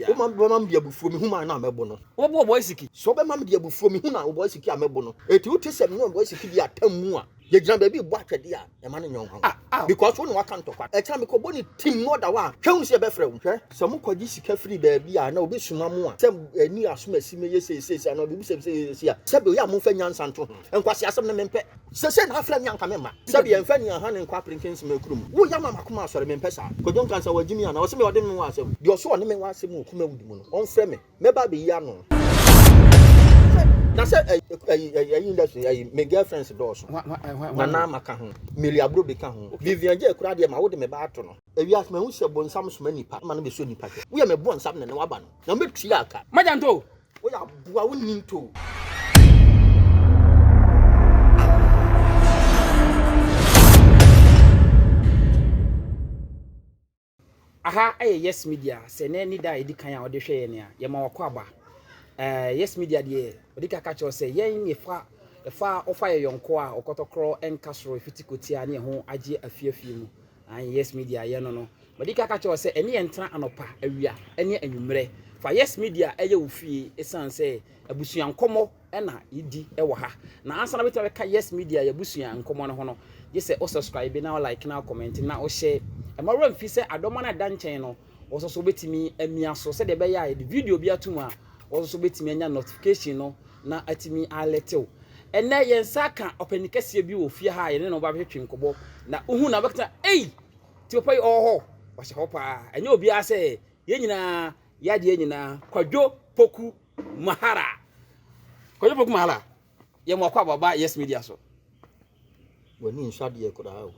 Wo ma bɛma me de abufuo me hunu a na mɛbo no. Wo bo ɔbɔ asiki. Sɛ wo bɛma me de abufuo me hunu a ɔbɔ asiki a mɛbo no. Eti wo te sɛ me ne ɔbɔ asiki di atam mu a. Yɛ gyina baabi rebɔ atwɛdeɛ a ɛma no nyɛ ɔhaw. Because wo ne waka ntɔkwa. Ɛkyɛ a me kɔ bɔ ne tim na ɔda hɔ a hwɛ hunu sɛ yɛbɛ frɛ wo. Hwɛ sɛ mo kɔ gye sika firi baabi a na obi soma mo a sɛ ɛni asomasi mɛyɛ sei sei sei anaa obi bisa me sɛ yɛyɛ sei a sɛbi oyɛ a mo nfa nyansa nto ho. Nkwasi asɛm no me mpɛ. Sesei na afrɛ me anka me mma. Sɛbi yɛnfa ni ahaa ne nkɔ aperenkye nsem akuru mu. Wo yɛ ama makoma asɔre me mpɛ saa. Kwadwo nkansa wagye me anaa ɔse me ɔde me wɔ asɛm. Deɛ ɔse ɔne me wɔ asɛm wɔ Kumawudi mu no ɔnfrɛ me mɛba abɛyi ano. Na sɛ ɛyi ɛyi ɛyi industry ɛyi me girl friends dɔɔso. Nana Ama ka ho, Milly Abrobe ka ho, Vivian Jay koraa deɛ ma wode me ba ato no. Ewiase mahu sɛ bonsam soma nipa ma no bɛsɔ nipa hwɛ. Woyɛ me bonsam na ɛnɛ waba no na mɛtua ka. Magyanto Woyɛ aboa wo nni ntoo. Aha yɛ Yes Media, sɛ na ɛne da a ɛdi kan a wɔde hwɛ yɛn a, yɛma wakɔ aba. Eh, yes Media deɛ, wɔde kaka kyerɛ sɛ yɛn ne fa ɛfa ɔfa yɛ yɔnko a ɔkɔtɔkorɔ nka soro ɛfiti kotia ne ɛho agye afie afie mu. Ae, Yes Media yɛ no no, madi ka ka kyerɛ wo sɛ ɛne yɛn tra anɔpa, awia ne anwummerɛ. Fa Yes Media yɛ wo fie ɛsiane sɛ abusua nkɔmmɔ na yɛdi wɔ ha. Na ansa na wobɛtumi abɛka Yes Media yɛ abusua nkɔmmɔ no ho no, gye sɛ wo subscribe na wo like na wo comment na wo share. Ɛma wura mfi sɛ adɔma no ɛda nkyɛn no, wo nso so wobɛtumi amia so sɛdeɛ ɛbɛyɛ a yɛde video bi ato mu a, Wo nso wobɛtumi anya notification no na atumi alɛte wo. Ɛnnɛ yɛn nsa aka ɔpanin kɛseɛ bi wɔ fie ha a yɛne no ba bɛtwetwe nkɔbɔ na wohu na wobɛka ei ti papa yi ɔwɔ hɔ ɔhyɛ hɔ paa ɛnyɛ obiara sɛ yɛn nyinaa yadeɛ nyinaa kwadwo poku mahara kwadwo poku mahara yɛn mu akɔ ababa yes media so w'ani nsɔ adeɛ koraa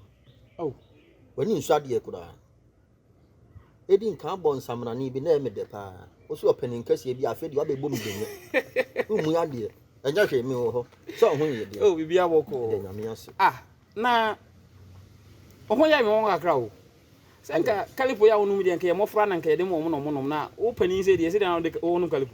o w'ani nsɔ adeɛ koraa Edi nkan abɔ nsamanani bi na ɛyɛ me dɛ paa. Wosi ɔpanin kɛseɛ bi afei deɛ wabɛbɔ mu dɛnyɛ. Womu adeɛ. Ɛnyɛ hwee me wɔ hɔ. Sɛ ɔho yɛ deɛ. Oh, biribi abɔ kɔɔ. Ɛdɛ nyame ase. Ah, na ɔho yɛ me wɔn kakra o. Sɛ nka kalipo yɛ a wonom deɛ nka yɛ mmɔfra na nka yɛde ma wɔn na wɔnom na wo panin sɛ deɛ sɛ deɛ na wode wɔnom kalipo.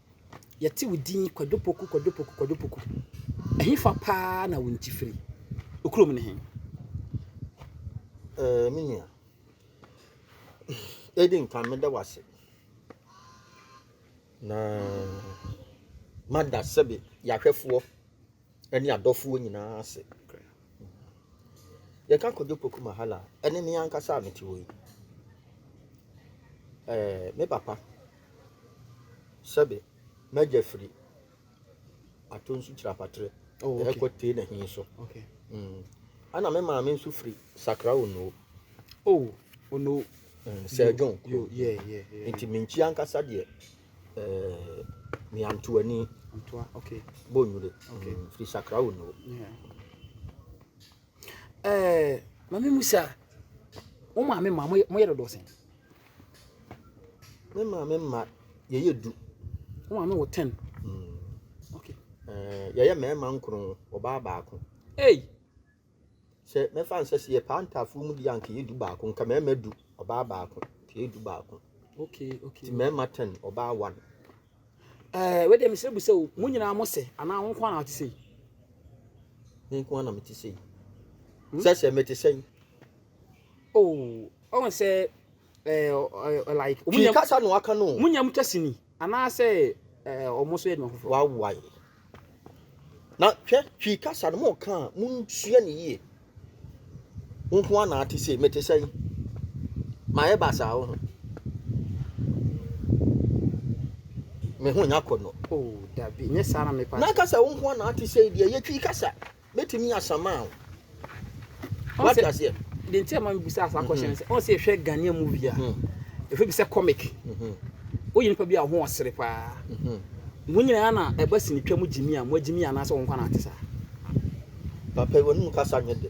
Yɛte wo din Kwadu Poku, Kwadu Poku, Kwadu Poku. Ɛhefa paa na wo nti firi? Okurom ne he? Ɛɛ, eh, me nua. Edi nkan meda wase. Na mada sɛbe yɛahwɛfoɔ. ɛne adɔfoɔ nyinaa ase. Yɛka Kojo Poku Mahala a, ɛne me ankasa a mete hɔ yi. Ɛɛ, me papa, sɛbe, m'agya firi Atonsu Kyirapatere, oh, okay. ɛkɔ tee na hin so. Okay. Mm. Ana me maame nso firi Sakra Onuo. Oh, Onuo. Mm, Sir John. Yo, yeah, yeah, yeah. Nti menkyi ankasa deɛ Miantoani, Bonnwire, firi Sakra Onuo. Eh, mami musa, wo maame ma mo yɛ dodoɔ sɛn? Me maame ma yɛyɛ du. Wo maame wɔ ten. Mm. Okay. Eh, yɛyɛ mmarima nkron, ɔbaa baako. Hey! Sɛ mɛfa no sɛ sɛ yɛpaa ntaafoɔ mu deɛ anka yɛ du baako nka mmarima du ɔbaa baako nka yɛ du baako okay okay ti mmarima ten ɔbaa one. ɛɛ wei deɛ mesrɛ bu sɛ o mo nyinaa mo sɛ anaa wo nko ara na wote sɛ yi. me nko ara na mete sɛ yi hmm? sɛ sɛ mete sɛ yi. oh ɔn sɛ ɛɛ like. kasa na waka no. mo nyam kɛse ni. Anaasɛ wɔn nso yɛ nea wɔawae? Na hwɛ, Twi kasa no, moka a, munsua no yie. Wo nko ara na ate sei, mete sɛn? Mayɛ basaa wo ho. Me ho nya kɔ no. Oh, dabi, nyɛ saa na mepɛ. Na kasa wo nko ara na ate sei deɛ, yɛ Twi kasa. bɛtumi yɛ asamaa o. Wate aseɛ? Deɛ nti a ma mebisa saa kɔhyɛ no sɛ ɔn sɛ yɛhwɛ Ghanaian movie a ɛfɛ bi sɛ comic woyɛ nipa bi a ho ɔsere paa mo nyinaa na ɛba sinitwa mu gyimi a mo agyimi anaasɛ wɔn kwan ate saa papa yi wɔn mu kasa nyɛ dɛ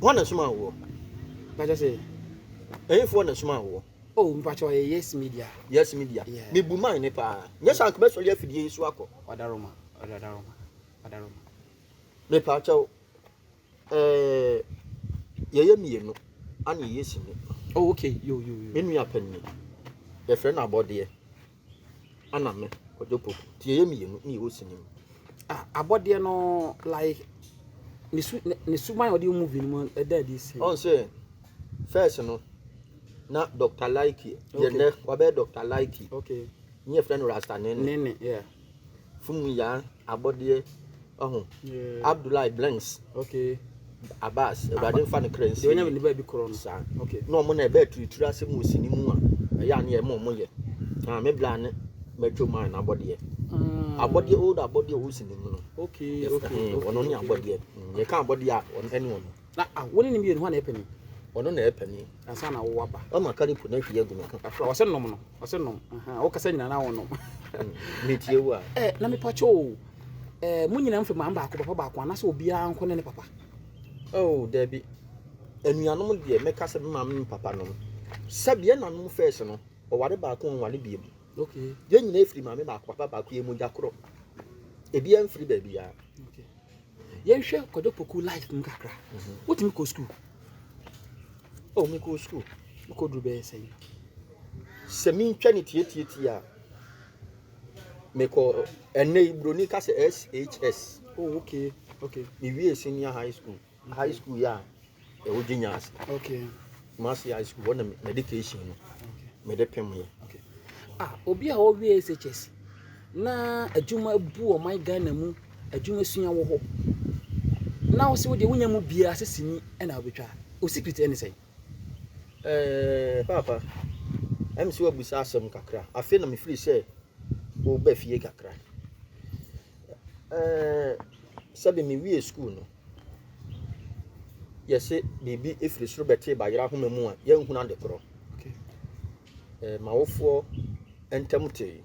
Hwan na ɛsomaa woɔ? Na kyɛ sɛ ɛhefoɔ na ɛsomaa woɔ? Oh, mpakyɛ ɔyɛ Yes Media. Yes Media. Yeah. Me bu man ne paa. Nyɛ sɛ anka mɛsɔre afidie yi so akɔ. Wadaroma, wadaroma, wadaroma. Me paakyɛw, eh, yɛyɛ mmienu, ana yɛyɛ sini. Oh, okay, yo, yo, yo. Me nua pɛnni, yɛfrɛ no abɔdeɛ. ɛna me kɔdwo poku nti yɛyɛ mmienu ne yɛwɔ sini mu ah abɔdeɛ no like ne su ne suban a ɔde yɛ movie no mu ɛda adi si ɔn sɛ first no na dr likey yɛ nɛ wabɛyɛ dr likey okay ne yɛfrɛ no rasta nene nene yeah Fumu Yaa abɔdeɛ ɔho yeah. Abdullahi Blanks okay. Abbas awurade mfa ne kra nsi ɔnyɛ ne baabi korɔ no saa okay. na ɔmo na ɛbɛ aturitiri asɛm wɔ sini mu a ɛyɛ ane ɛma ɔmo yɛ na me bla ne mɛtwa mu a na abɔdeɛ mm. abɔdeɛ old abɔdeɛ ɔwɔ sini mu no okay, okay, okay, ɔno ne abɔdeɛ mm, yɛka abɔdeɛ a ɛne ɔno Na a wo ne no mmienu hɔ na ɛpɛ mi. Ɔno na ɛpɛ mi. Ansa na wo aba. Ɔma kari po na hwi agu me ho. Afra ɔsɛ nom no ɔsɛ nom. Wo kasa nyina na wɔnom. Me tie wo a. Ɛ na me pakyɛ o. Ɛ mo nyina mfe maa baako papa baako anasɛ obiara nko ne ne papa. Oh dabi. Anuanom deɛ me kasa me maame me papa nom. Sɛbi yɛ nanom fɛs no ɔware baako ɔnware biem. Okay. Yɛ nyina efiri maame baako papa baako yɛ mogya korɔ. Ebi amfiri baabi a. Okay. Yɛnhwɛ Kwadwo Poku life mu kakra. Wotumi kɔ sukuu? Oh, mekɔɔ sukuu. Mekɔduru bɛyɛ sɛn? Sɛ mentwa ne tiatiatie a, mekɔ ɛnɛ yi buroni ka sɛ SHS. Oh, okay, okay. Mewie senior high school. High school yɛ a, Ɛwɔ Ginya ase. Okay. Kumasi high school hɔ na medication no mede pemee. Okay. Ah, obi a ɔwie SHS na adwuma abu ɔman Ghana mu adwuma sua wɔ hɔ na ɔsɛ wodeɛ wonya mu biara sɛ sini ɛna wobɛtwa o secret ɛne sɛ eh, papa ɛm sɛ wabusa asɛm kakra afei na mefiri sɛ woba fie kakra eh, sɛbe mewie school no yɛse biribi ɛfiri soro bɛtee bayerɛ ahoma mu a yɛnhunu ade korɔ okay. eh, mawofoɔ ntam tee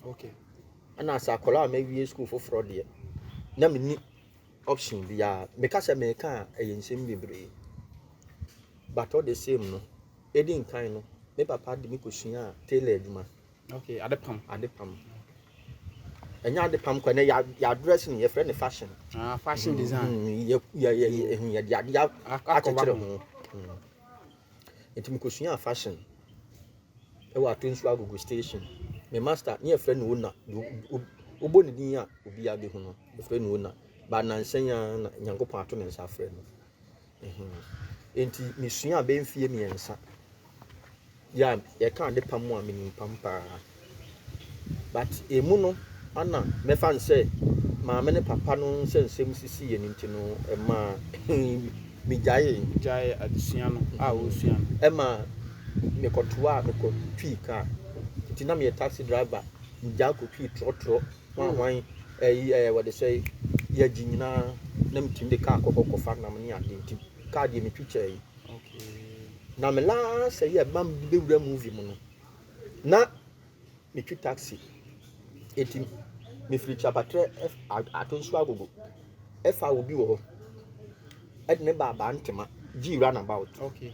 okay. ɛna sɛ akɔla a mawie sukuu foforɔ deɛ na menni option biara meka sɛ meka a ɛyɛ nsɛm bebree but all the same no ɛdi nkan no me papa de me kɔsuaa tailor adwuma Okay, adepam. Adepam. Ɛnyɛ adepam kɔ, ɛnɛ yɛ address no yɛfrɛ no fashion. Ah, fashion design. Mm, yɛ yɛ yɛ yɛ ehu yɛ de ade akyekyere ho. Mm. Nti mi kò sua fashion. Ɛwɔ ato nsu agogo station. Me master ne yɛfrɛ no ona. Wobɔ ne din a obiara bɛhu no. Yɛfrɛ no ona. Ba nansa yi ara na Nyankopɔn ato ne nsa afrɛ no. Enti misuaa bɛyɛ mfeɛ mmiɛnsa. Yɛ a yɛka ade pam a menim pam pa ara. But ɛmu no ɛna mɛfa no sɛ maame ne papa no sɛ nsɛm sisiiɛ no nti no ɛmaa megyaee. Gyaee adesua no a wosua no. Ɛmaa mekɔtoaa mekɔtwii kaa. Nti na meyɛ taxi driver. Megyae kɔtwii trɔtrɔ Hwan hwan ɛyi ɛɛ wɔde sɛ yɛgye nyinaa na metumi de kaa kɔkɔ kɔfa nam ne adeɛ nti kaa deɛ metwitwa yi na me last ɛyi a mam de bɛwura movie mu no na metwi taxi ɛti mefiri kyapatrɛ ato nso agogo ɛfa obi wɔ hɔ ɛde ne baabaa ntoma gye round about okay.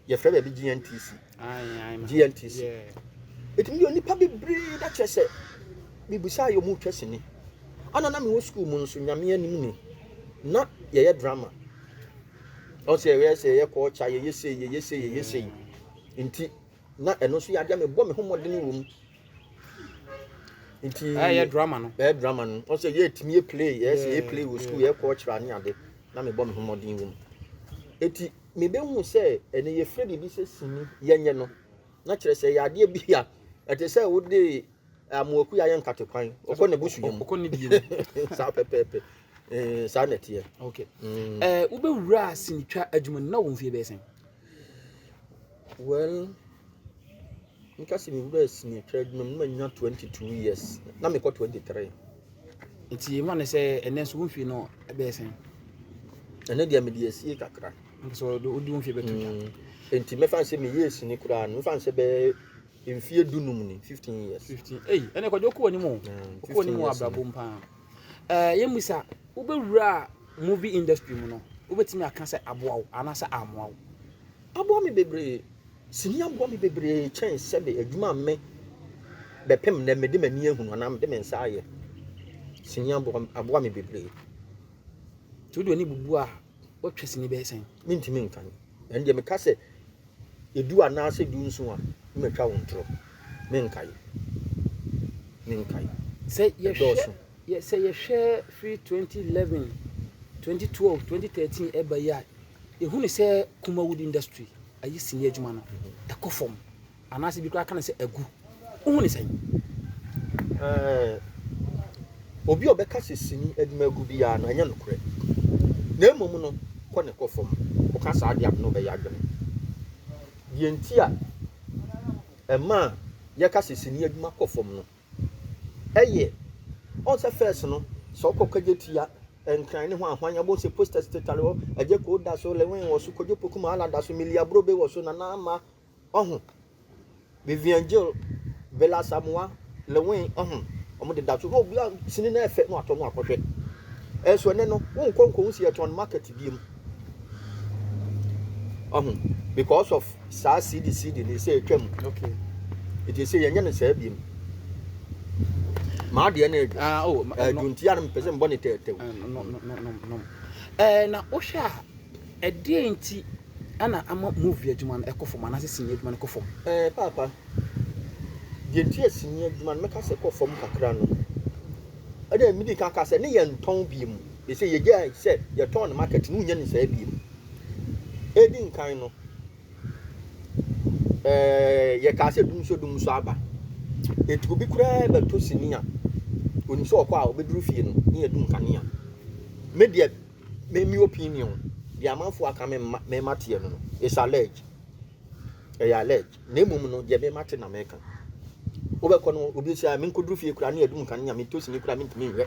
yɛfrɛ baabi GNTC GNTC ɛtumi yɛ onipa bebree na kyerɛ sɛ mebusaa yɛ ɔmutwa sini ana na mewɔ sukuu mu nso nyame anim ni na yɛyɛ drama ɔsɛ yɛyɛ sɛ yɛyɛ kɔɔkya yɛyɛ sei yɛyɛ sei yɛyɛ sei nti na ɛno nso yɛ adeɛ mebɔ me ho mmɔden wɔ mu nti ɛyɛ drama no ɛyɛ drama no ɔsɛ yɛ tumi yɛ play yɛ sɛ yɛ play wɔ sukuu yɛ kɔ ɔkyerɛ ne ade na mebɔ me ho mmɔden wɔ mu eti mebɛhu sɛ ɛnɛ yɛfrɛ biribi sɛ sini yɛnyɛ no na kyerɛ sɛ yɛ adeɛ bi a ɛte sɛ wode amoaku yɛ ayɛ nkate kwan ɔkɔ ne bosu yɛ mu ɔkɔ ne die mu saa pɛpɛɛpɛ ɛɛ saa na ɛteɛ ok mm. ɛɛ wobɛwura asenitwa adwuma no na wɔn fie bɛyɛ sɛn well Meka sɛ mewuraa sini twa adwuma mu na manya 22 years na mekɔ 23. Nti ɛma ne sɛ ɛnɛ nso wo mfie no ɛbɛyɛ sɛn? Ɛnɛ deɛ mede asie kakra. Mpo sɛ wode wo mfie bɛto dwa. Nti mɛfa ne sɛ meyɛɛ sini koraa no mɛfa ne sɛ bɛyɛ mfie dunum ni 15 years. 15 ei ɛnɛ kɔde wokɔ w'anim o wokɔ w'anim wɔ abrabɔ mu paa. Ɛɛ yɛmmisa wobɛwura movie industry mu no wobɛtumi aka sɛ aboa wo anaasɛ ammoa wo? aboa me bebree. Sini aboa me bebree kyɛn sɛbe adwuma a me bɛpem nnɛ mede m'ani ahunu anaa mede me nsa ayɛ. Sini aboa me aboa me bebree. Nti wode w'ani bubu a woatwa sini bɛyɛ sɛn? Mentumi nkan. Ɛndeɛ meka sɛ edu anaa sɛ du nson a ne matwa wo ntorɔ. Menkae. Menkae. Sɛ yɛhwɛ yɛ sɛ yɛhwɛ firi 2011, 2012, 2013 ɛba yi a Yɛhu no sɛ Kuma Wood Industry ayi sini adwuma no kɔ fam anaasɛ bi koraa ka no sɛ agu. Wohu no sɛn? Ɛɛ, obi a ɔbɛka sɛ sini adwuma agu biara no, ɛnyɛ nokorɛ. Na mmom no, kɔ ne kɔ fam. Woka saa deɛ a, me ne wo bɛyɛ adwene. Deɛ nti a ɛma yɛka sɛ sini adwuma kɔ fam no, ɛyɛ ɔn sɛ first no sɛ ɔkɔ kɔgye tia nkran ne ho ahwan ɛbɔ sɛ posters tetare hɔ ɛgye koo da so lewin wɔ so kɔdwo poku ma ala da so milia brobe wɔ so nana ama ɔho vivian jill bela samoa lewin ɔho ɔmo de da so na obi a sini na ɛfɛ na watɔ no akɔhwɛ ɛso ɛnɛ no wonkɔ nkɔ ho si ɛtɔn market biem. ɔho because of saa cd cd ne sɛ atwa mu okay ɛti sɛ yɛnyɛ no saa biom maa deɛ no adu ah, oh, aduntia no mpɛ sɛ mbɔ ne tɛɛtɛw na wohwɛ a ɛdeɛ nti ana ama movie adwuma no ɛkɔ fam anaasɛ sini adwuma no kɔ fam ɛɛ paapa deɛ nti a sini adwuma no mɛka sɛ kɔ fam kakra no ɛna medi ka ka sɛ ne yɛ ntɔn biom Seesei yegyae sɛ yɛtɔn no market no, wonnya no saa bio. Edi nkan no, ɛɛ, yɛkaa sɛ dum so dum so aba. Enti obi koraa bɛtɔ sini a, onim sɛ ɔkɔ a obeduru fie no, ne yɛadum nkanea. Me deɛ, me me opinion, deɛ amanfo aka me mma me mma teɛ no no, it's alleged. Ɛyɛ alleged. Na mmom no, deɛ me mma te na meka. Wobɛkɔ no, obi sɛ, menkɔduru fie koraa ne yɛadum nkanea, metɔ sini koraa mentumi nhwɛ.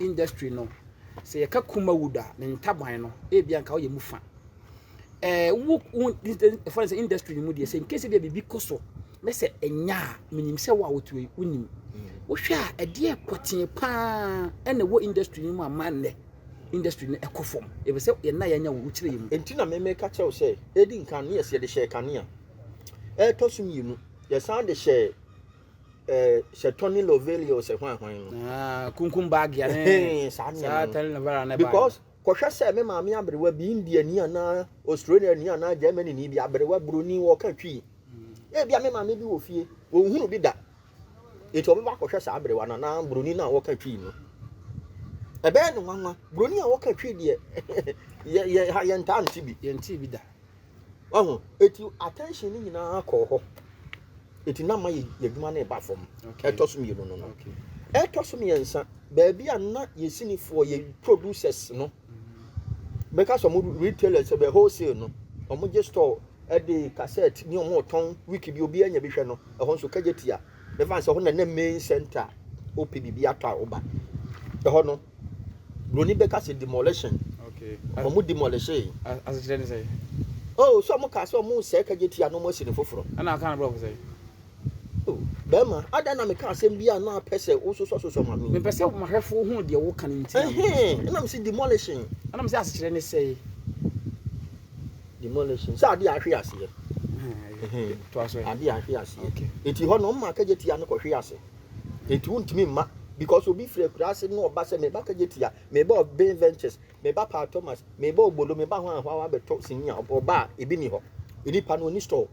industry no, sɛ yɛka Kumawood a, ne ntaban no, ebi anka ɔyɛ mu fa. Ɛɛ wo wo ɛfa sɛ industry no mu deɛ sɛ nkesi deɛ biribi kɔ so na sɛ ɛnya a menim sɛ wo a wotu yi wonim. Mm. Wohwɛ a ɛdeɛ pɔtee paa ɛna wɔ industry no mu a ma nnɛ industry no ɛkɔ fam. Ebi sɛ yɛn na yɛnya wo wokyerɛ yɛ mu. Enti na mɛmɛ ka kyɛw sɛ edi nkan ne yɛsɛ yɛde hyɛ kanea. Ɛtɔ so mmienu yɛsan de hyɛ eh, sɛ tony lovelio sɛ hwan hwan no Ah, kunkum baagea ne Ɛhɛn, saa nneɛma saa no. tɛne ne vara ne because kɔhwɛ sɛ me maame aberewa bi indiani anaa australiani anaa germany ni bi aberewa buroni wɔka twii ebia me maame bi wɔ fie wɔnhunu bi da enti ɔbɛba akɔhwɛ saa aberewa no anaa buroni no a wɔka twii no ɛbɛyɛ no nwanwa buroni a wɔka twii deɛ yɛ- yɛ- ha yɛntaa nte bi yɛnte bi da Wahu? Eti attention no nyinaa kɔɔ hɔ. Eti na ma yɛ adwuma no reba fam. Ɛtɔ so mmienu no no. Ɛtɔ so mmiɛnsa, baabi a na yɛ sinifoɔ, yɛ producers no, mɛka sɛ wɔn retailers, ɛbɛ wholesale no, wɔn gye store ɛde cassette ne wɔn retɔn wiki bi, obi anya bi hwɛ no, ɛhɔ nso kagye tia. Mɛfa sɛ ɛhɔ na na main center a wopɛ biribi atɔ a woba. Ɛhɔ no. Broni bɛka sɛ demolition. Okay. Wɔn demolishee. Asekyerɛ ne sɛ. Oh, so wɔn kaa sɛ wɔn sɛɛ kagye tia no wɔn asi ne foforɔ. Ɛna aka no brɔfo sɛ. Oh, bɛrima, adan na meka asɛm bi a na apɛ sɛ wososɔsosɔ ma me. Mepɛ sɛ mahwɛfo hu deɛ woka no nti. Ɛhɛn, ɛna mese demolishing. Ɛna mese asekyerɛ ne sɛ. Demolishing. Sɛ adeɛ ahwe aseɛ. Ɛhɛn, adeɛ ahwe aseɛ. Okay. Eti hɔ no, wɔn ma kagye tia no kɔhwe ase. Enti wontumi mma because obi firi akuraase na ɔba sɛ meba kagye tia, meba Obey Ventures, meba Paul Thomas, meba Obolo, meba ho ahoa wabɛtɔ sini a ɔba a ebi ni hɔ. Nipa no ɔni store.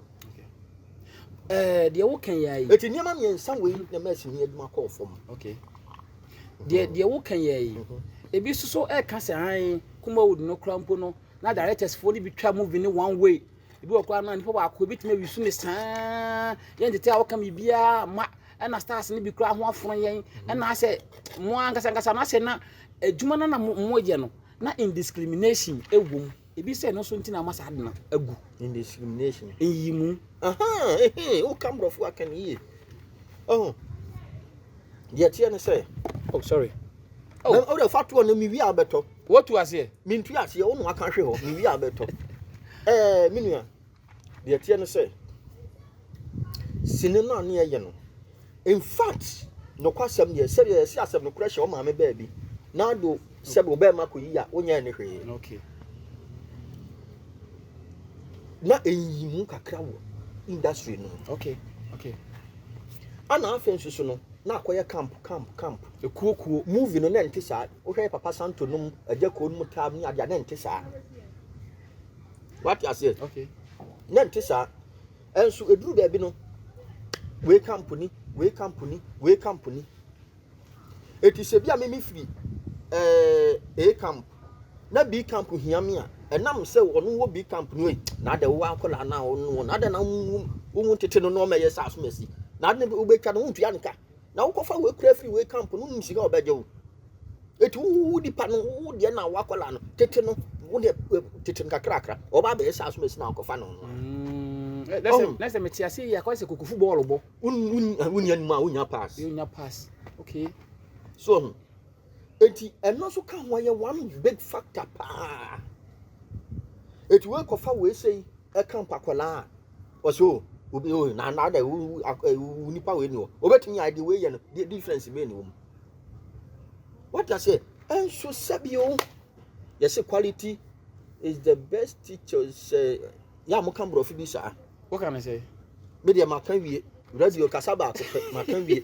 Eh, deɛ woka yɛ ayi. Eti nneɛma mmiɛnsa wei na ɛma sini adwuma kɔɔ fam. Okay. Deɛ mm-hmm. deɛ woka yɛ ayi. Mm-hmm. Ebi soso ɛka sɛ han Kumawood no kora mpo no na directors foɔ no bi twa movie no one way. Ebi wɔ koraa no nipa baako ebetumi awi so me saa. Yɛn tete a wɔka mi biara ma ɛna stars no bi koraa ho afono yɛn. Ɛna asɛ mo ankasa ankasa na asɛ na adwuma no na mo mo yɛ no na indiscrimination ɛwɔ mu. Ebi sɛ no so nti na ama saa de no agu. Indiscrimination. Nyi mu. Aha, ehe, wo ka mbrɔfo aka no yie. Oh. Deɛ teɛ ne sɛ. Oh sorry. Oh. Na ɔde fa toɔ no mi wi abɛtɔ. Wotu aseɛ? Mentu aseɛ, wo na waka hwe hɔ, mewie a bɛtɔ. Ɛɛ, me nua, deɛ ɛteɛ no sɛ, sini no a ne yɛyɛ no, in fact, nokwasɛm deɛ, sɛdeɛ yɛse asɛm no korɛ hyɛ wo maame baabi, na do sɛ wo bɛrima kɔyi a, wonyɛɛ ne hwee. Okay. na ɛnyi mu kakra wɔ industry no okay okay ana afei nso so no na akɔyɛ camp camp camp ekuo kuo movie no na ɛnte saa Wohwɛ Papa Santo nom agya kuo no mu taa mu ne adeɛ a na nte saa. Wate aseɛ? Okay. Na nte saa. Ɛnso ɛduru baabi no wei kampuni, wei kampuni, wei kampuni. Ɛti sɛ bi a mimi firi ɛɛ eh, A camp na B camp hia me a ɛnam sɛ ɔno wɔ B camp no yi na adɛ wowɔ akɔla no a ɔno na adɛ na wowu ntete no na ɔma ɛyɛ sɛ asom asi na adɛ wobɛtwa no wontua nka na wokɔfa wei kura firi wei camp no wonim sika ɔbɛgye wo ɛti wowo nipa no wo deɛ na woakɔla no tete no wo deɛ eh, tete no kakrakra ɔba abɛyɛ sɛ aso mɛsi na akɔfa no no a na sɛ na sɛ mete ase yɛ akɔyɛ sɛ kokofu bɔɔlo bɔ wonya nim a wonya pass wonya pass okay so ɔho Eti ɛno nso ka ho ɛyɛ one big factor paa. Eti wei kɔfa wei sei ɛka nkwakwalaa a ɔsɛ o obi o na na dɛ wo nipa wei ni o obetumi ayɛ deɛ wei yɛ no deɛ difference bɛyɛ ne wɔm. Wata sɛ ɛnso sɛbi o yɛsɛ quality is the best teacher sɛ yɛ a mo ka borɔfo bi saa. Woka ne sɛ? Me deɛ maka wie radio kasa baako pɛ maka wie.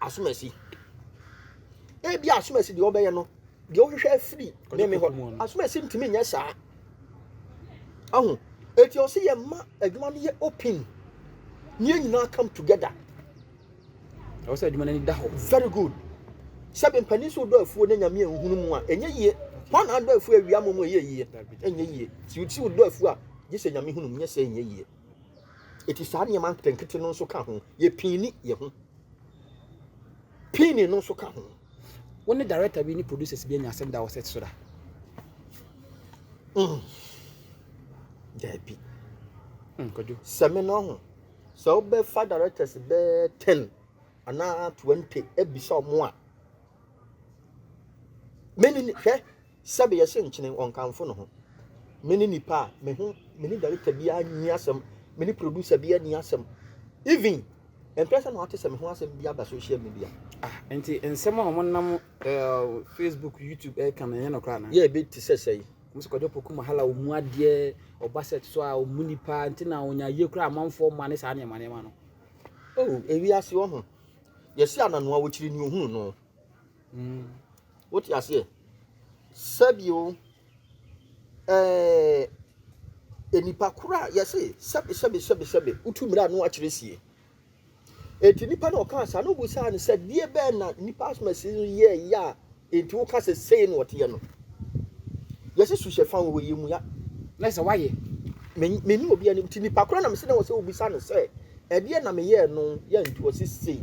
asomasi. Ebia asomasi deɛ ɔbɛyɛ no deɛ ɔhwehwɛ afiri ne me hɔ asomasi ntumi nyɛ saa ahu eti ɔsi yɛ mma adwuma no yɛ open ne yɛn nyinaa come together. ɛwɔ sɛ adwuma no ani da hɔ. very good sɛbi mpanyin so dɔ afuo ne nyame nhunu mu a ɛnyɛ yie wɔn na adɔ afuo awia mu mu ɛyɛ yie ɛnyɛ yie si si dɔ afuo a gye sɛ nyame hunu mu nyɛ sɛ ɛnyɛ yie. Enti saa nneɛma nketenkete no nso ka ho. Yɛpiini yɛn ho. Piini no nso ka ho. Wo ne director bi ne producers bi anya asɛm da wɔ set so da? Mm. Daabi. Mm, kwadwo. Sɛ me no ho. Sɛ wobɛfa directors bɛɛ 10 anaa 20 abisa ɔmo a, mene hwɛ Sɛbe yɛse nkyene wɔnkamfo no ho. Mene nipa a me ho mene director biaa nni asɛm mene producer biaa nni asɛm even mpɛ sɛ na wate sɛ me ho asɛm bi aba social media. Ah nti nsɛm a wɔn nam uh, Facebook YouTube ɛka no ɛnyɛ no koraa na. Yɛ ebi te sɛ sɛyi. Wɔn sɛ kwadwo poku mahala wɔn mu adeɛ ɔba set so a wɔn mu nipa nti na wɔn ayie koraa amanfoɔ mma ne saa nneɛma nneɛma no. Oh ewi ase ɔho yɛsi ananoa wɔkyiri ni ohunu no. Wote aseɛ? Sɛ bio, ɛɛ, nnipa koro a yɛse sɛbe sɛbe sɛbe sɛbe wotu mmerɛ a na wakyerɛ sie. Enti nipa na ɔkaa saa na obisaa no sɛ deɛ bɛn na nipa asoma si no yɛ yɛ a enti woka sɛ sei na ɔteɛ no. Yɛse su hyɛ fa wɔ yɛ mu ya. Na sɛ wayɛ. Menni obi anim nti nipa koro na mese na wɔ sɛ wobisa no sɛ ɛdeɛ na meyɛɛ no yɛ nti ɔse sei.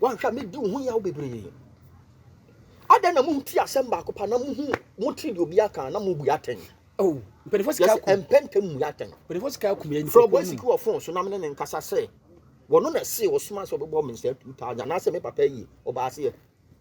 wanhwɛ a mɛdi wo ho yaw bebree adɛn na monti asɛm baako pa na mohu motiri deɛ obi aka na mobu atɛn oh, mpanyinfoɔ sika akum yɛsɛ mpɛntɛm mu yɛ atɛn mpanyinfoɔ sika akum yɛn nipa fɔlɔbɔ esiki wɔ fon so na mene ne nkasa sɛ wɔn na ɛse wɔsoma sɛ ɔbɛbɔ me nsɛ two thousand anaasɛ me papa yi ɔbaa seɛ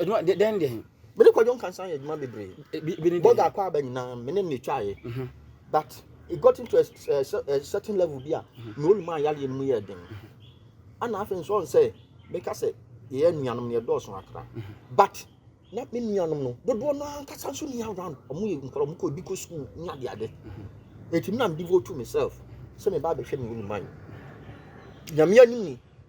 adwuma de dɛn deɛ me ne kwadwo nkansa yɛ adwuma bebree bi ne bɔga akɔ aba nyinaa me ne ne twaeɛ mhm. but it got into a, a, a certain level bi a mhm. na ɔnum ayareɛ no mu yɛ den mhm. ana afei nso ɔn sɛ meka sɛ yɛyɛ nuanom no yɛdɔɔso akra but na me nuanom no dodoɔ no ankasa nso ni around ɔmo yɛ nkɔrɔ ɔmo kɔ ebi kɔ sukuu ne ade ade eti mi na mi devote to myself sɛ mi ba abɛhwɛ mi wɔ ne man nyame anim ni.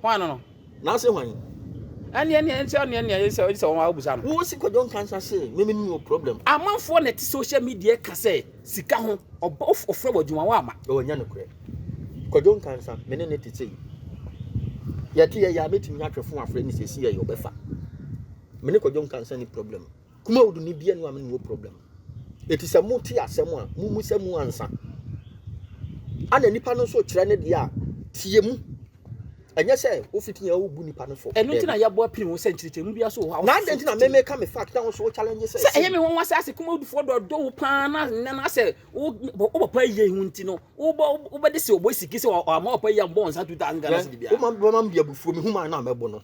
Hwan no? N'ase hwan? Ɛne ɛne ɛne sɛ ɛne ɛne sɛ ɛne sɛ wɔn abusa no. Wo si kɔjɔ nkansa se me me ni o problem. Amanfoɔ na ɛte social media ka sɛ sika ho ɔbɔ ɔfrɛ wɔ adwuma wɔ ama. Ɛwɔ nyɛ no korɛ. Kɔjɔ nkansa me ne ne te sɛ yi. Yɛte yɛ yɛ a mɛtumi atwɛ fo afrɛ ne sɛ si yɛ yɛ ɔbɛfa. Me ne kɔjɔ nkansa ni problem. Kumawudu ne bia nua me ne wo problem. Eti sɛ mo te asɛm a mo mu sɛ mu ansa. Ana nipa no nso kyerɛ ne deɛ a tie mu. Ɛnyɛ sɛ wo fiti yɛn wo bu nipa no fɔ. Ɛno nti na yɛbɔ apiri ho sɛ nkyerɛkyerɛ mu bia so wɔ hɔ a. Na adɛn nti na me me ka me fact na wo nso wo challenge sɛ. Sɛ ɛyɛ me nwanwa sɛ asɛ Kumawudufoɔ dɔ dɔ wo paa na nnɛ na asɛ wo wo papa yi yɛ ho nti no wo bɔ wo bɛ de se ɔbɔ siki sɛ ɔama papa yi a mbɔ nsa 2000 Ghana cedi bia. Wo ma ma bi abufuo me hu ma na mɛbo no.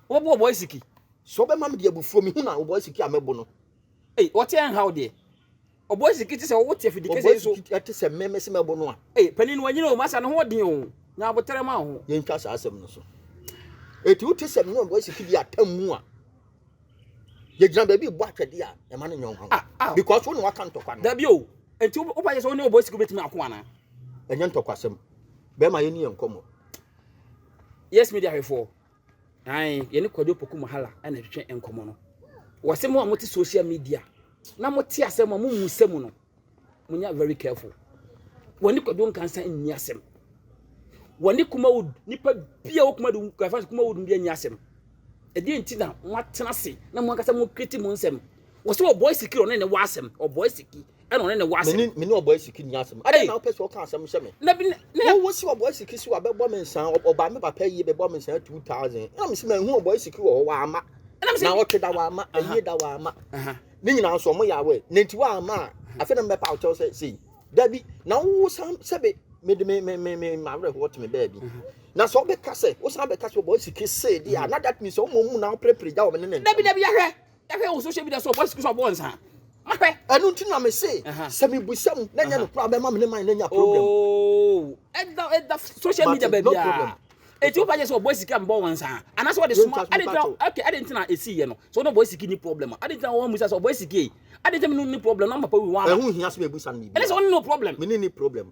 Wo bɔ ɔbɔ siki. So ɔbɛma me de abufuo me hunu a ɔbɔ asiki a mɛbo no. Ei ɔte ɛnha wo deɛ. Ɔbɔ asiki te sɛ ɔwo te afidi kɛsɛ yi so. Ɔbɔ asiki te sɛ mɛ mɛsi mɛbo no a. Ei panin wanyini o masa ne ho ɔden o nya abotere ma wo ho. Yɛntwa saa asɛm no so. Eti wote sɛ mene ɔbɔ asiki bi atam mu a yɛgyina baabi bɔ atwɛde a ɛma no nyɛ ɔhaw. Ah, ah. Because wo ne waka ntɔkwa no. Dabi o. Enti wopa yɛ sɛ wo ne ɔbɔ asiki bɛtumi ako anaa? Ɛnyɛ ntɔkwasɛm. Bɛrima yɛ ne yɛ nkɔmmɔ. Yes media hwɛfoɔ. Ae, yɛne Kwadwo Opoku Mohala na ɛtwetwe nkɔmmɔ no. Wɔse mo a mote social media na mote asɛm a momu sɛ mu no, monya very careful. Wɔne Kwadwo Nkansa nni asɛm. Wɔne Kumawood nipa bia wɔ Kumawood, Kumawood bia nni asɛm. Ɛdeɛ nti na moatena se na mo ankasa mo kreti mo nsɛm. wɔsɛ ɔbɔ asiki ɔne ne wɔ asɛm ɔbɔ asiki ɛna ɔne ne wɔ asɛm mene mene ɔbɔ asiki ni asɛm ɛna na ɔpɛ sɛ ɔka asɛm hyɛ me na bi na wɔ wɔ si ɔbɔ asiki si wa bɛbɔ me nsan ɔba me papa yie bɛbɔ me nsan two thousand ɛna mesi ma ehu ɔbɔ asiki wɔ hɔ wɔ ama na ɔte da wɔ ama ɛyie da wɔ ama ne nyinaa nso ɔmo yɛ awɛ na nti wɔ ama a afei na mbɛpa ɔkyɛw sɛ sei dabi na wɔ wɔ san sɛbi mede me me me me ma awerɛ hɔ te me baabi na sɛ ɔbɛka sɛ wɔ san bɛka sɛ ɔbɔ asiki see deɛ a na that means ɔmo mu na ɔpere pere gya wɔn ne ne ntɛm dabi dabi ahwɛ Yɛhwɛ wo social media so ɔbɔ sikiri so ɔbɔ nsa. Mahwɛ. Ɛnu nti na me se sɛ mi busa mu na nyɛ no kura bɛ ma mi ne man na nya problem. Ooo ɛda ɛda social media baabi a. Eti wopa yɛ sɛ ɔbɔ sikiri a mbɔ wɔn nsa. Anasɛ wɔde soma adi ntina okay adi ntina esi yɛ no. So na ɔbɔ sikiri ni problem. Adi ntina wɔn musa sɛ ɔbɔ sikiri. Adi ntina mi ni problem na ɔmapa wi wɔn ama. Ɛho hia sɛ mi busa no mi bi. Ɛna sɛ wɔn ni no problem. Mi ni ni problem.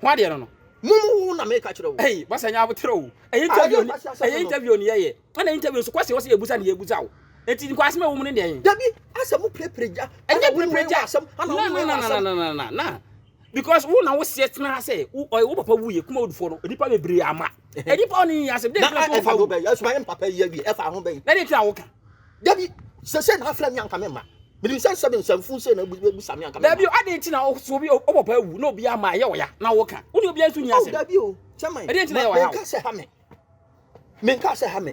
Ho adeɛ no no. Mum wo na meka kyerɛ wo. Hey, basa nya abotere o. Ɛyɛ interview ni, ɛyɛ interview ni yɛyɛ. Ɛna interview nso kwasi wɔsi ebusa ni ebusa o. Eti nkwa asem ɛwɔ mu ne deɛn? Dabi, asɛ mo pirepire gya. Ɛnyɛ pirepire gya. Asɛm, ana wo wei asɛm. Na na na na na. Because wo na wo seɛ tena ha sɛ wo papa wuye kuma odufo no nipa bebree ama. ɛdi pa ɔne yɛ asɛm dɛ kura fo fa wo bɛyi ɛsoma yɛ mpapa yi awie ɛfa ho bɛyi na de kura wo ka dabi sɛsɛ na afra mi anka me ma mede nsɛm sɛbe nsɛmfo nsɛ na ebu sami anka me ma dabi o adi nti na ɔso bi ɔbɔ pa awu na obi ama ɛyɛ ɔya na wo ka wo ne obi anso ni asɛm dabi o kyɛmɛ ɛdi nti na ɛyɛ ɔya o menka sɛ ha me menka sɛ ha me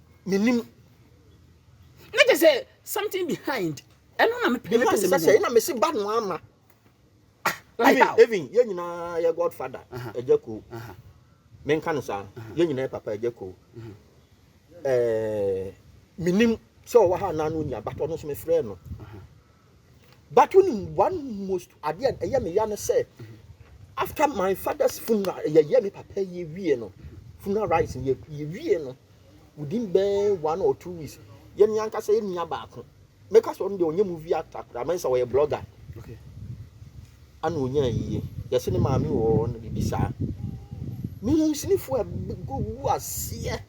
menim. Na kyɛ sɛ something behind. Ɛno na mepɛ mepɛ sɛ sɛ na mesi ba no ama. Even even yɛn nyinaa yɛ godfather ɛgya ko. Menka no saa. Yɛn nyinaa yɛ papa ɛgya ko. Ɛɛ menim sɛ ɔwɔ ha na no nya but ɔno nso mefrɛ no. But wonim one most adeɛ a ɛyɛ me ya ne sɛ after my father's funeral yɛyɛ me papa yɛ wie no funeral rites yɛ yɛ wie no within bɛn one or two weeks yɛ me ankasa yɛ nua baako mɛka sɛ ɔno deɛ ɔnyɛ movie actor koraa mɛnsa ɔyɛ blogger okay ana ɔnya yie yɛse ne maame wɔ hɔ no biribi saa mehu sinifoɔ a gu aseɛ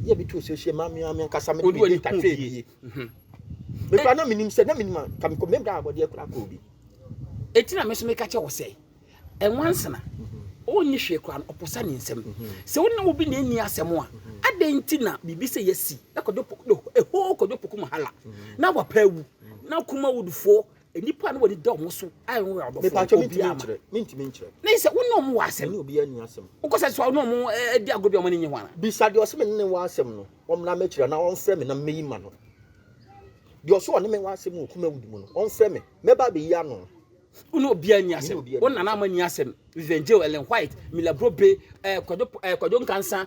yɛ bi to so hyɛ ma me ame nkasa me de me data twɛ bie me kura na menim sɛ na menim a ka mekɔ mebra abɔdeɛ kora kɔ obi ɛti na me so meka kyɛ wɔ sɛ ɛnwansena ɔnyi hwee kora no ɔposa ne nsɛm sɛ wo ne wobi na ɛnni asɛm a adɛn nti na biribi sɛ yɛsi na kɔdwo ɛhoo kɔdwo poku mahala na wapa awu na kuma wudufoɔ nnipa no wɔde da wɔn so a wɔn yɛ ɔdɔfo obiara ma mentumi nkyerɛ na sɛ wo ne wɔn wɔ asɛm ne obiara ni asɛm wokɔ sɛ so ne wɔn eh, di agorɔ bi a wɔn ani nye ho ana bisa deɛ ɔsɛ me ne wɔ asɛm no wɔn na mɛkyerɛ na wɔmfrɛ me na meyi ma no deɛ ɔsɛ ɔne me wɔ asɛm wɔ kuma wudi mu no wɔmfrɛ me mɛba abɛyi ano wo ne obiara ni asɛm wo nana ama ni asɛm Vivian Joe Ellen White Mila Brobe eh, Kwadwo eh, Kwadwo Nkansa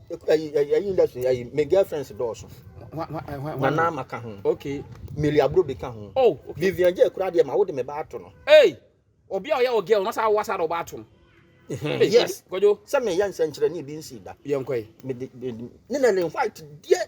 ɛyi ɛyi ɛyi industry ɛyi my girlfriends dɔɔso nana ma ka ho okay mary aburo bi ka ho oh okay vivian jẹ kura deɛ ma wo de me ba ato no ee obi a ɔyɛ wɔ girl no saa awa saa na ɔba ato no yes kɔdwo sɛ meyɛ nsɛnkyerɛnne bi nsi da yɛnkɔe ne na ne white deɛ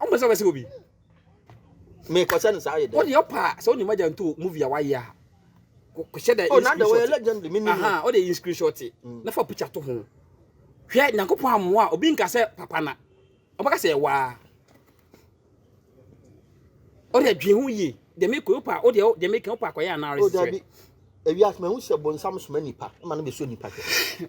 ɔmo sɛ wɔsɛ obi me kɔsɛ no saa yɛ dɛ wode ɔpa sɛ wode magya nto movie a wayɛ a kɔhyɛ dɛ oh nada wɔyɛ legend me nim aha wode in screenshot mm. na fa picture to ho hwɛ nyankopɔn amoa obi nka sɛ papa na ɔbɛka sɛ ɛwaa ɔde adwen ho yie deɛ mekɔ wopa wodeɛ deɛ meka wopa akɔyɛ anaa oh, resɛ ewiase mahu sɛ bonsam soma nipa ma no bɛsuo nipa hwɛ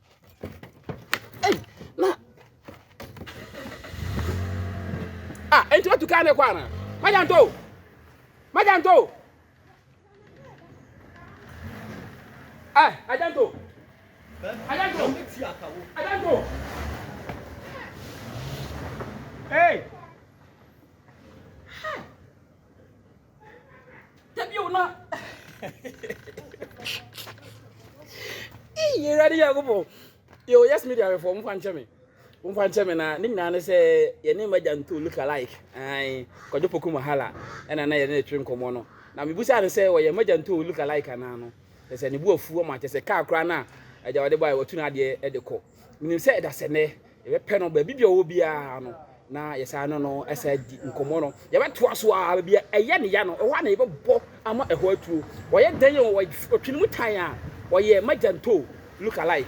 Ah, enti watu kaa ne kɔ ana? Magya nto! Magya nto! Eh, agya nto! Agya nto! Agya nto! Hey! dabi o na iye awurade nyankopɔn yo yes media bɛfɔ momfa nkyɛ me momfa nkyɛ me na ne nyinaa ne sɛ yɛne magya nto look alike ae kwadwo poku mahala ɛna na yɛne ne twe nkɔmmɔ no na mebusaa no sɛ wɔyɛ magya nto look alike anaa no kyɛ sɛ ne bu afu ama kyɛ sɛ kaa koraa no a agya wɔde bae wɔtu no adeɛ de kɔ menim sɛ ɛda sɛ nɛ Yɛbɛpɛ no baabi bi a ɔwɔ biara no, na yɛsan ne no ɛsɛ adi nkɔmmɔ no. Yɛbɛtoa so ara baabi a ɛyɛ ne ya no, ɛhɔ ara na yɛbɛbɔ ama ɛhɔ atuo. Ɔyɛ dɛn o, ɔtwe ne mu tan a, ɔyɛ Magya Ntoo look alike.